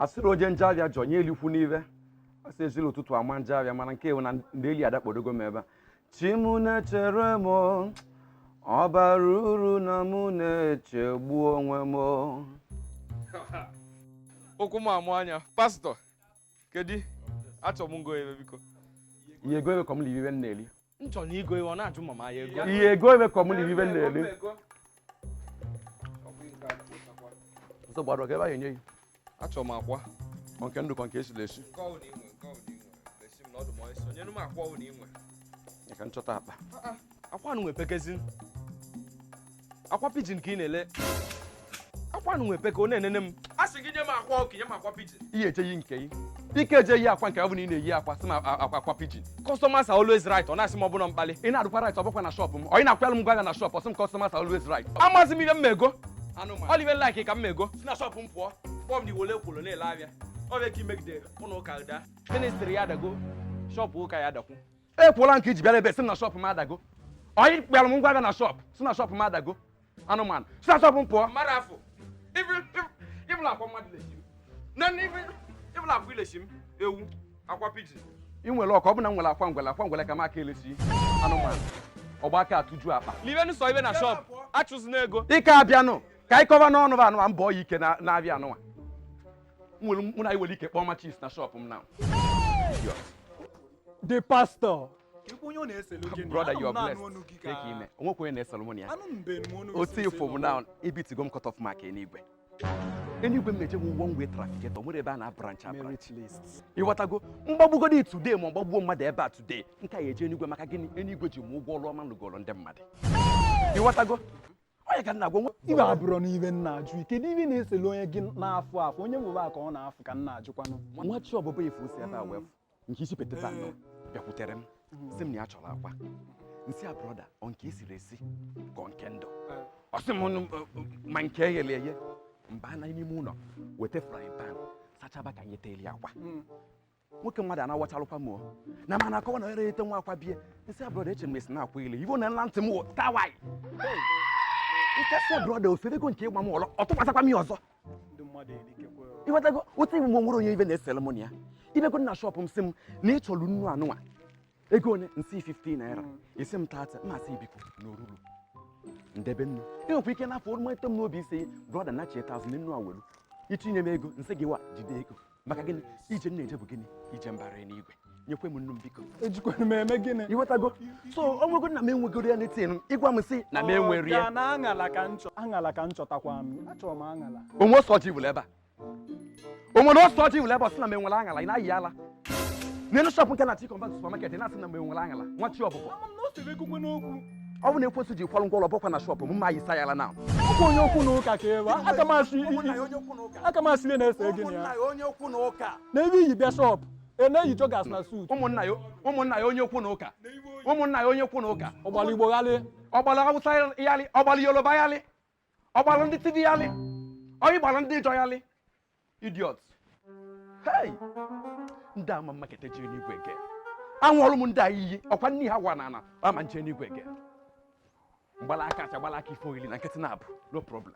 asịrị oje njọ avịa jọ nye elikwu n'ive asị ejirọ ụtụtụ ama njọ avịa mana nke a wụ na ndeli adakpodogo m ebe a chi m na-echere m ọ barọ uru na mụ na-echegbu onwe m okwu m amụ anya pastọ kedu achọ m ịgo ive biko i ye-ego ive ka m na-eri ive m na-eri m chọrọ ịgo ihe ọ na-ajụ ma m ya-ego i ye-ego ive ka m lie ive m na-eri nsogbu adịrọ ọga ive a ya-enye gị achọrọ m akwa ma nke ndụ ka nke esiri esi nke ọbụla i nwe nke ọbụla i nwe lesi m na ọ dụ m ọsọ nyenu m akwa ọbụla i nwe ya ka m chọta akpa akwa anụnwa epekazi akwa pigeon ka ị na-ele akwa anụnwa epeka ọ na-enene m a sị gị nye m akwa ọkụkọ i nye m akwa pigeon ihe echeghị nke gị ike eje yi akwa nke ọ bụ na ị na-eyi akwa sị m a- akwa akwa pigeon customers are always right ọ na-asị m ọ bụ na m kpali ị na-adụkwa right ọ bụkwa na shop m ọ ị na-akwụlụ m ụgwọ ya na shop ọ sị m customers are always right amazi m ihe m mego ọ dị ive like ka m mego si na shop m pụọ kpọọ m n'iwole kwolo na-ele avịa ọ bụ ka i megide ụlọ ụka da ministry ya adago shop ụka ya adakwu ekwuola nke i ji bịara ebe sị m na shop m adago onye kpịara m ngwa avịa na shop sị na shop m adago anụmanụ si na shop m pụọ mmadụ afọ ịbụla akwa mmadụ lesi m na ịbụla akwa i lesi m ewu akwa pigeon ị nwere ọka ọ bụ na m nwere akwa ngwele akwa ngwele ka m aka elesi anụmanụ ọgba aka atụju akpa libe nụsọ ive na shop achụzina ego ike abịanụ ka anyị kọba n'ọnụ ba anụwa mbọ ya ike na- na-abịa anụwa nwere mụ na anyị nwere ike kpọọ ma chiefs na shop m na the pastor brother you are blessed take time o nwekwa onye na-esere mụ na ya otu ife bụ na ebeatigo m cut off mark enigwe enigwe m na-eje bụ one way trafficator nwere ebe a na-abranch abranch ịghọtago m gbagbugodi today ma m gbagbuo mmadụ ebe a today nke a ya eje enigwe maka gịnị enigwe ji m ụgwọ ọrụ ọma m lụgoro ndị mmadụ ịghọtago onye ka m na-agwa nwa ive abụrụ n'ive m na-ajụ ike n'ive na-esele onye gị na-afụ afụ onye nwere aka ọ na-afụ ka m na-ajụkwanụ nwa chi ọbụbụ ife o si ebe a wee fụ nke isi peteta anọ bịakwutere m sị m na ya chọrọ akwa m sị ya brọda ọ nke esiri esi ka ọ nke ndụ ọ sị m no ọ ọ ma nke eghere eghe m banye n'ime ụlọ weta frying pan sachaba ka anyị teeli akwa nwoke mmadụ anawachalụkwa m o. na mana akọwa na ere ete nwa akwa bie m sị ya brọda eche m esi na akwa ile ivo na nla ntị m wụ tawai m asị brọda o ferego nke ịgba m ọlọ ọ tụkwasakwa m ya ọzọ ịghọtago otu iwu nwere onye ive na-esere m na ya ị bịago na shop m sị m na ị chọrọ nnu anụnwa ego one m sị 50 naira hmm. ị sị m 30 m asị gị biko na o rurọ m debe nnu i nwekwa ike n'afọ oroma eto m n'obi ị sị brọda na cheta azụ na nnu awelu itinye m ego m sị gị wa jide ego maka gịnị ije m na-eje bụ gịnị ije mbara n'igwe nyekwe m nnu m biko ejikwana m eme gịnị ịghọtago so ọ nwego na m enwegoro ya n'etin ịgwa m sị na m enwere ya na aṅala ka m chọ aṅala ka m chọtakwa m achọrọ m aṅala o nwe ose ọjị wụrụ ebe a o nwere ose ọjị wụrụ ebe ọ sị na m enwere aṅala ị na-ayị ala n'elu shọpụ nke na-achọ ịconvert supermarket na-asị na m enwere aṅala nwa chi ọbụbọ ọ bụ na ekwensu ji kwalụ ngwọrọ bụkwa na shọpụ m ma yisa ya ala na ọkwa onye okwu na ụka ka ewe aka m asị aka m asị ihe na-ese gị na ya onye okwu na ụka na ebe iyi bịa shọpụ ị na-eyi joggers na suit ụmụnna ya ụmụnna ya onye okwu na ụka ụmụnna ya onye okwu na ụka ọ gbara igbo ghalị ọ gbara hausa yalị ọ gbara yoruba yalị ọ gbara ndị tiv yalị ọyị gbara ndị ịjọ yalị idiot hey ndị ama mmakete jiri n'igwe again anwụọrụ m ndị a iyi ọkwa nne ha gwa na ana ama m eje n'igwe again m gbala aka acha gbala aka ife oyili na nkịtị na-abụ no problem